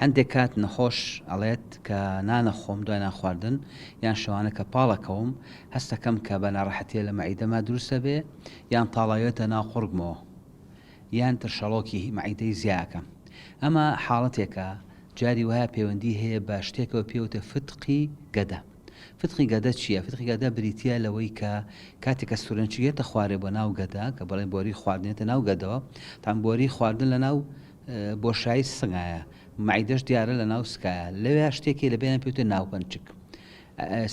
هەندێک کات نەخۆش ئەڵێت کە نان ئەخۆم دوای نان خواردن یان شەوانە کە پاڵ ئەکەوم هەست ئەکەم کە بە ناڕەحەتیە لە مەعیدەما دروست ئەبێ یان تاڵاوێتە ناو قوڕگمەوە یان ترشەڵۆکی مەعیدەی زیا ئەکەم ئەمە حاڵەتێکە جاری وایە پەیوەندی هەیە بە شتێکەوە پێوتە فتقی گەدە فتقی گەدە چییە؟ فتقی گەدە بریتییە لەوەی کە کاتێک کە سورێنچی یێتە خوارێ بۆ ناو گەدە کە بەڵێن بۆری خواردنێتە ناو گەدەوە تان بۆری خواردن لە ناو بۆشایی سنگایە مەعیدەش دیارە لە ناو سکایە لەوێ شتێکی لە بێنە پێوتە ناوپەنچک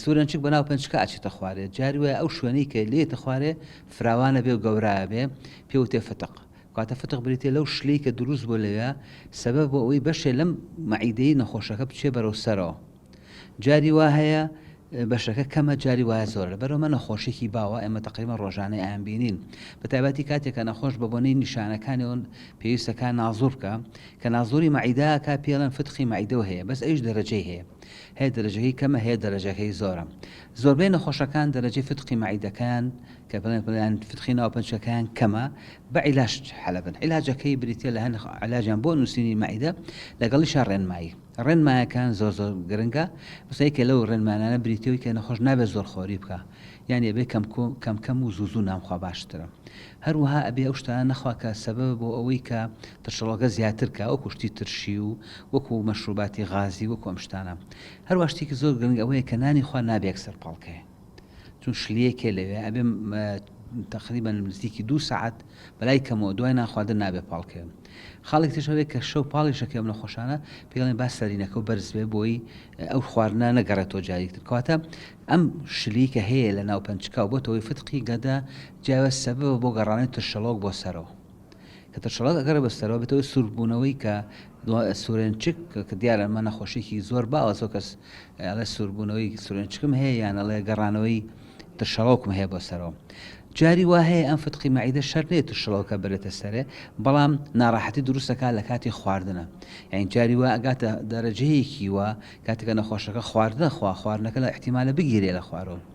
سورەنچک بە ناو پنچکە ئاچێتە خوارێ جاری وایە ئەو شوێنەی کە لێتە خوارێ فراوانە بێ و گەورایە بێ پێوتێ فتق کاتە فتق بریتێ لەو شلی کە دروست بۆ لەوێ سەبە بۆ ئەوی بەشێ لەم مەعیدەی نەخۆشەکە بچێ بەرەو سەرەوە جاری وا هەیە بەشەکە کەمە جاری وایە زۆرە لەبەرەوە مە نەخۆشێکی باوە ئێمە تەقریبا ڕۆژانەی ئایان بینین بە تایبەتی کاتێک کە نەخۆش بە بۆنەی نیشانەکانی ئەوون پێویستەکە نازور بکە کە نازوری مەعیداکە پێڵەن فتقی مەعیدەوە هەیە بەس ئەوش دەرەجەی هەیە هەیە دەرەجەکەی کەمە هەیە دەرەجەکەی زۆرە زۆربەی نەخۆشەکان دەرەجەی فتقی مەعیدەکان کە بڵێن پڵیان فتقی ناو پنچەکەیان کەمە بە عیلاش حەلبن عیلاجەکەی بریتە لە هەن علاجیان بۆ نووسینی مەعیدە لەگەڵی شە ڕێنمایی ڕێنمایەکان زۆر زۆر گرنگە، مەسەڵەن یەکێ لەو ڕێنمانانە بریتیە وەی کە نەخۆش نابێ زۆر خۆری بکا، یانی ئەبێ کەم کو کەم کەم و زوو زوو نان بخوا باشترە، هەروەها ئەبێ ئەو شتانە نەخوا کە سەبەبە بۆ ئەوەی کە ترشەڵۆکە زیاتر کا وەکوو شتی ترشی و وەکوو مەشروباتی غازی وەکوو ئەم شتانە، هەروەها شتێکی زۆر گرنگ ئەوەیە کە نانی خوا نابێ یەکسەر پاڵ کەێ. چون شلیەکێ لەوێ ئەبێ تقریبا نزیکی دوو سعات بەلای کەمەوە دوای نانخواردن نابێ پاڵکەوێم خاڵێک تش هەبێت کە شەو پاڵیشەکەم لە خۆشانە پێڵێن با سەرینەکە و بەرزبێ بۆی ئەو خواردنا نەگەڕێتەوە جاریکتر کەواتە ئەم شلی کە هەیە لە ناو پەنجکاو بۆتەوەی فتقی گەدە جیاوە سەبەبە بۆ گەڕانەوەی ترشەڵۆک بۆ سەرەوە کە تەشەڵەک ئەگەڕێ بە سەرەوە بێتەوە سوور بوونەوەی کە سورێنچک کە دیارە ئەمە نەخۆشیکی زۆر باوە زۆر کەس ئەڵێ سووربوونەوەی سورێنچکم هەیە یان ئەڵێ گەڕانەوەی ترشەڵۆکم هەیە بۆ سەرەوە جاری وا هەیە ئەم فتقی مەعیدە شەر نێت و شڵەوکە بەرێتە سەرێ بەڵام ناڕاحەتی دروستەکە لە کاتی خواردنە یان جاری وا ئەگاتە دەرەجەیەکی وە کاتەکە نەخۆشەکە خواردە خوا خواردنەکە لە احتیمالە بگیرێ لە خوارەوە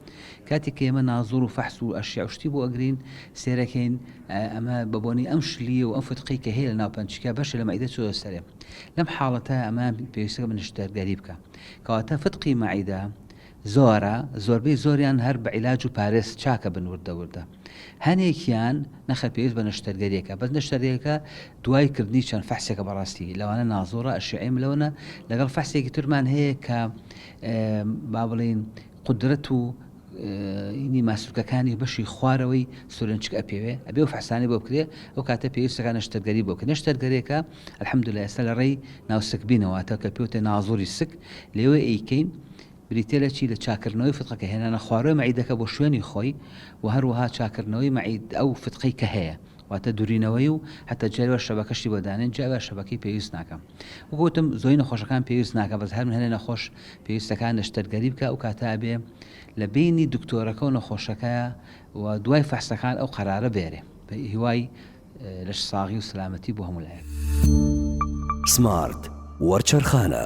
کاتێک کە ئێمە نازوڕ و فەحس و ئەشیع و شتی بۆ ئەگرین سێرەکەین ئەمە بە بۆنەی ئەم شلیە و ئەم فتقەی کە هەیە لە ناو پەنچکە بەشێ لە مەعیدە چۆتە سەرێ لەم حاڵەتە ئەمە پێویستەکە بە نەشتەرگەری بکە کەواتە فتقی مەعیدە زۆرە زۆربەی زۆریان هەر بە عیلاج و پارێز چاکە بن وردە وردە هەنێکیان نەخە پێویست بە نەشتەرگەریەکە بەس نەشتەرگەکە دوای کردنی چەند فەحسێکە بەڕاستی لەوانە نازۆرە ئەشعیم لەوەنە لەگەڵ فەحسێکی ترمان هەیە کە با بڵین قودرەت و ینی ماسولکەکانی بەشی خوارەوەی سورێنچک ئەپێوێ ئەبێ و فحسانەی بۆ بکرێ ئەو کاتە پێویستەکە نەشتەرگەری بۆ بکە نەشتەرگەرێکە الحمدللە ئێستا لە ڕێی ناو سک بینە واتە کە پێوتێ نازوری سک لێوێ ئەیکەین بریتێ لە چی لە چاکردنەوەی فتقەکە هێنانە خوارەوەی مەعیدەکە بۆ شوێنی خۆی و هەروەها چاکردنەوەی مەعید ئەو فتقەی کە هەیە واتە دورینەوەی و حەتە جاری وا شەبەکە شتی بۆ دانێن جا ئەوە شەبەکەی پێویست ناکا وەکو وتم زۆری نەخۆشەکان پێویست ناکا بەس هەر من هەنێ نەخۆش پێویستەکان نەشتەرگەری بکا ئەو کاتە ئەبێ لە بینی دکتۆرەکە و نەخۆشەکەیا و دوای فەحسەکان ئەو قەرارە بێرێ بە هیوای لەش ساغی و سلامەتی بۆ هەموو لایەک. سمارت وەرچەرخانە.